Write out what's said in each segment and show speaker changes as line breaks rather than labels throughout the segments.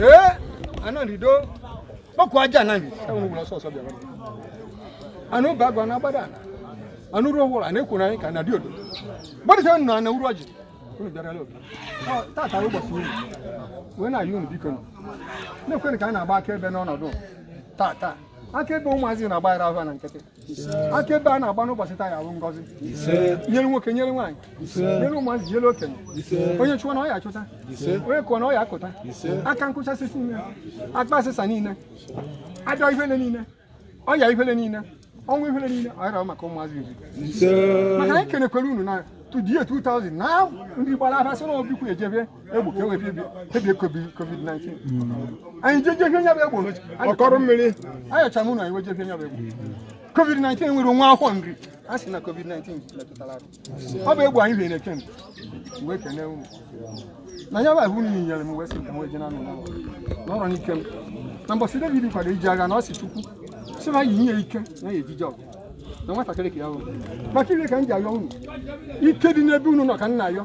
ee anọlido kpọkuo aja na anụ ụba agwa na agbada ala anụ ruo ụwụrụ a na-ekwu na anyị ka na dị odo gbadịsa nọ na uru ọjị unu bịarala obi tata ụbọchị unu wee na-ayọ unu biko na-ekwere ka anyị na-agba akaebe n'ọnọdụ tata akaebe ụmụazị na-agbaghara ahụ na nkịtị akaebe a na-agba n'ụbọchị taa ya bụ ngọzi nyere nwoke nyere nwaanyị nyere ụmụazị nyere okenye onye chụwa na ọ ya achụta onye kụọ na ọ ya akụta aka nkụchasị niile akpa asịsa niile ajọ ifele niile ọya ifele niile ọnwụ ifele niile ọ yara maka ụmụazị nzuzo maka anyị kenekwere unu na tudie 2000 na ndị gbara abasị na obikwu ejebe egbo ka e wee bibie covid-19 anyị jeje ihe nya bụ egbo ọkọrọ mmiri ayọcha m ụlọ anyị wejeje nya bụ egbo covid-19 nwere nwa agụkwu nri a sị na covid-19 metụtara ọ bụ egbo anyị bịa na-eke m wee kene unu na ya bụ ahụ niile nyere m wee sị ka m wee je na anụ n'ụlọ n'ọrụ n'ike m na mbọsị david kwado ije agha na ọ si chukwu sị na yi nye ike na ya ejije ọgụ na nwatakịrị ka ya bụ maka ihe ka m ji ayọ unu ike dị n'ebe unu nọ ka m na-ayọ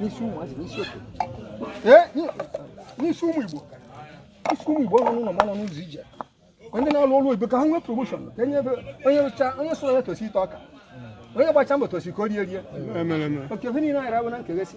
n'isi ụmụ azị n'isi okenye n'isi ụmụ igbo n'isi ụmụ igbo ọ nọ n'ụlọ ma ọ nọ n'ụzọ ije ndị na-alụ ọrụ oyibo ka ha nwee promotion ka enye ebe onye rụcha onye sụrụ ya tosi ite ọka onye gbacha mbọ tosi ka o rie rie oke ihe niile anyị rabụ na nkegesi